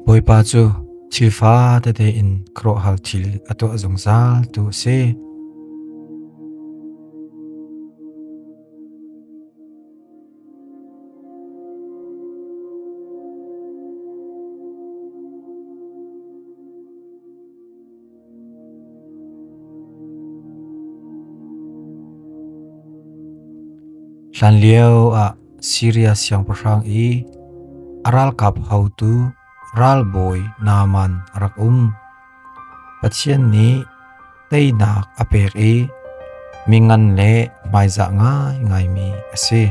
Bawipa cu thil fa tete in krawhhal thil a tuah zungzal tu a si. Hlanlio ah Siria siangpahrang i a ralkap haotu ralbawi Naaman a rak um. Pathian nih teinak a pek i mi ngan le hmaizah ngaingaimi a si.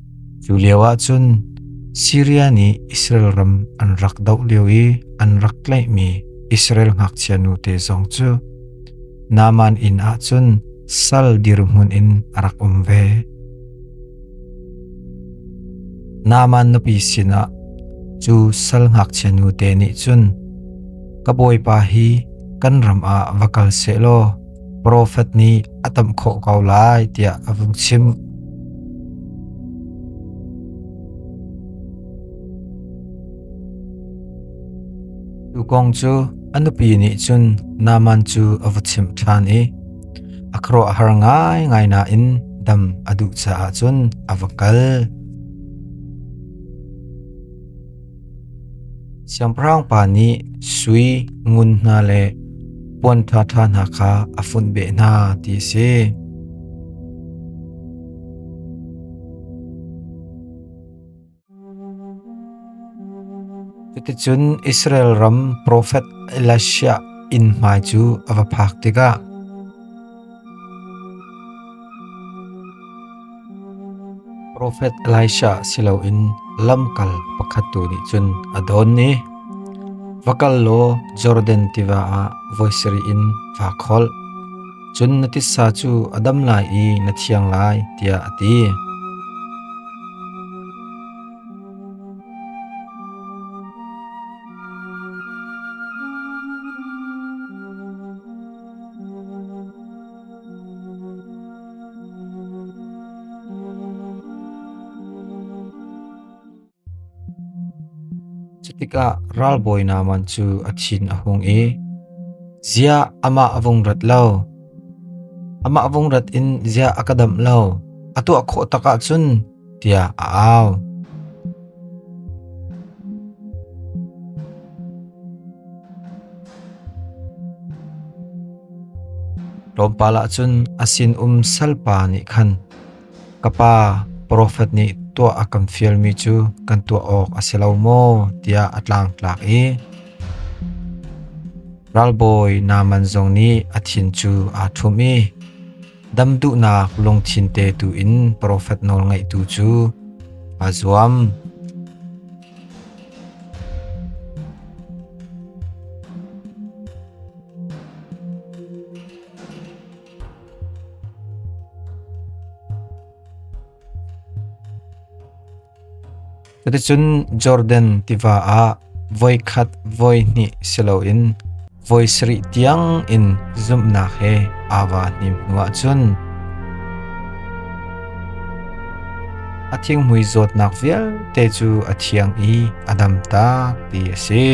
Cu lioah cun Siria nih Israel ram an rak doh lio i an rak tlaihmi Israel ngakchia nute zong cu Naaman inn ah cun sal dirhmun in a rak um ve. Naaman nupi sinah cu sal ngakchia nute nih cun, “Ka bawipa hi kan ram ah va kal sehlaw, profet nih a tam khawh ko lai tiah a vung chim. Cu kong cu a nupi nih cun Naman cu a va chim ṭhan i a khro a har ngai ngai nain dam a duh caah cun a va kal. Siangpahrang pa nih sui, ngun hna le puan ṭhaṭha hna kha a funh beh hna ti a si. Cuticun Israel ram profet Elisha inn hmai cu a va phak tikah Profet Elisha si loin lamkal pakhat tu nih cun a dawn i, Va kal law Jordan tiva ah voi sarih in vaa kholh. Cun na titsa cu a dam lai i na thiang lai, tiah a ti. tikah ralbawi Naaman cu a thin a hung i ziah amah a vung rat lo amah vung rat in ziah a ka damh lo a tuah khawh takah cun tiah a au. Tlawmpal ah cun a sinum salpa nih khan ka pa profet nih tuah a kan fialmi cu kan tuah awk a si lo maw tiah a tlangtlak i ralbawi Naaman zong nih a thin cu aa ṭhum i Dam duhnak lungthin te tu in profet nawl ngaihtu cu aa zuam. Cuticun Jordan tiva ah voi khat voi hnih si loin voi sarih tiang in zumhnak he aa va hnim hnuah cun a thinghmui zawtnak vialte cu a thiang i a dam tak ti a si.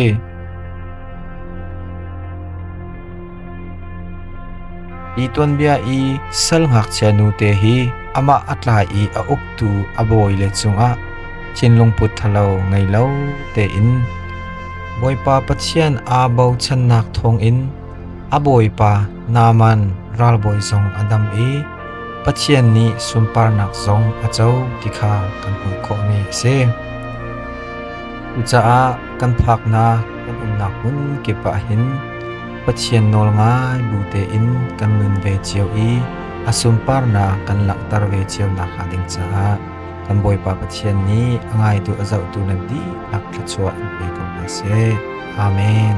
Hi tuanbia i sal ngakchia nute hi amah a tlai i a uktu a bawile cungah thinlungput ṭhalo ngei lo tein Bawipa Pathian aa bochannak thawngin a bawipa Naaman ralbawi zong a dam i Pathian nih sunparnak zong a co ti kha kan hmuh khawhmi a si. Cucaah kan phaknak Kan umnak hmun kip ahhin Pathian nawl ngai bu tein kan nun ve cio i a sunparnak kan langhter ve cio nakhnga ding caah kan Bawipa Pathian nih a ngaitu a zohtu nan dihlak thluachuah in pe ko hna seh. Amen.